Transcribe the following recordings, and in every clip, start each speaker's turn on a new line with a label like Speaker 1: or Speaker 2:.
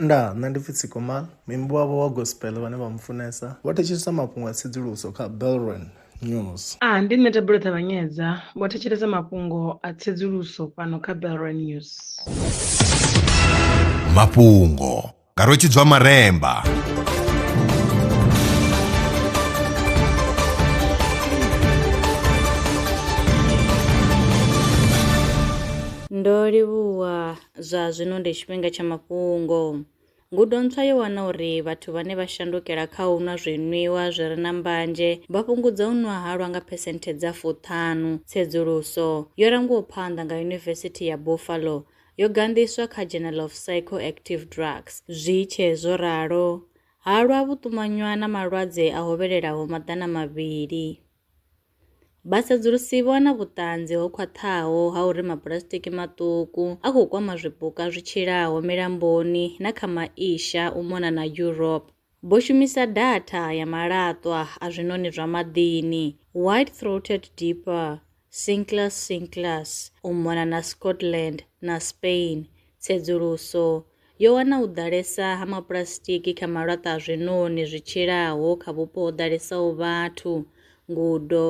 Speaker 1: Nda, nṋe ndi pfi Tsikoma, muimbi wavho wa gospel vhane vha mu funesa vho thetshelesa mafhungo a tsedzuluso kha Belron News. A, ndi nṋe Thabelo
Speaker 2: Ṱavhanyedza, vho thetshelesa mafhungo a tsedzuluso fhano kha Belron News.
Speaker 3: Mafhungo nga Rwetshidzwa Maremba.
Speaker 4: Ndo livhuwa Zwa zwino ndi tshifhinga tsha mafhungo. Ngudo ntswa yo wana uri vhathu vhane vha shandukela kha u nwa zwinwiwa zwi re na mbanzhe vha fhungudza u nwa halwa nga phesenthe dza fuṱhanu. Tsedzuluso yo langiwaho phanḓa nga Yunivesithi ya Buffalo yo ganḓiswa kha Journal of Psychoactive Drugs. Zwi tshe zwo ralo, halwa vhu ṱumanywa na malwadze a hovhelelaho maḓana mavhili. Vhasedzulusi vho wana vhuṱanzi ho khwaṱhaho ha uri mapulasitiki maṱuku a khou kwama zwipuka zwi tshilaho milamboni na kha Maisha u mona na Europe. Vho shumisa datha ya malaṱwa a zwiṋoni zwa maḓini, white-throated dipper, Cinclus cinclus, u mona na Scotland na Spain Tsedzuluso yo wana u ḓalesa ha mapuḽasitiki kha malaṱwa a zwiṋoni zwi tshilaho kha vhupo ho ḓalesaho vhathu. Ngudo,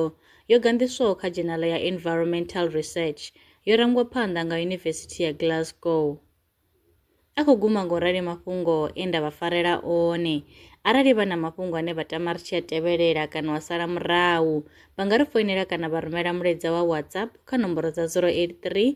Speaker 4: yo ganḓiswaho kha dzhenala ya Environmental Research, yo rangwa phanḓa nga Yunivesithi ya Glasgow. A khou guma nga u rali mafhungo e nda vha farela one. Arali vha na mafhungo ane vha tama ri tshi a tevhelela kana wa sala murahu, vha nga ri foinela kana vha rumela mulaedza wa WhatsApp kha nomboro dza 083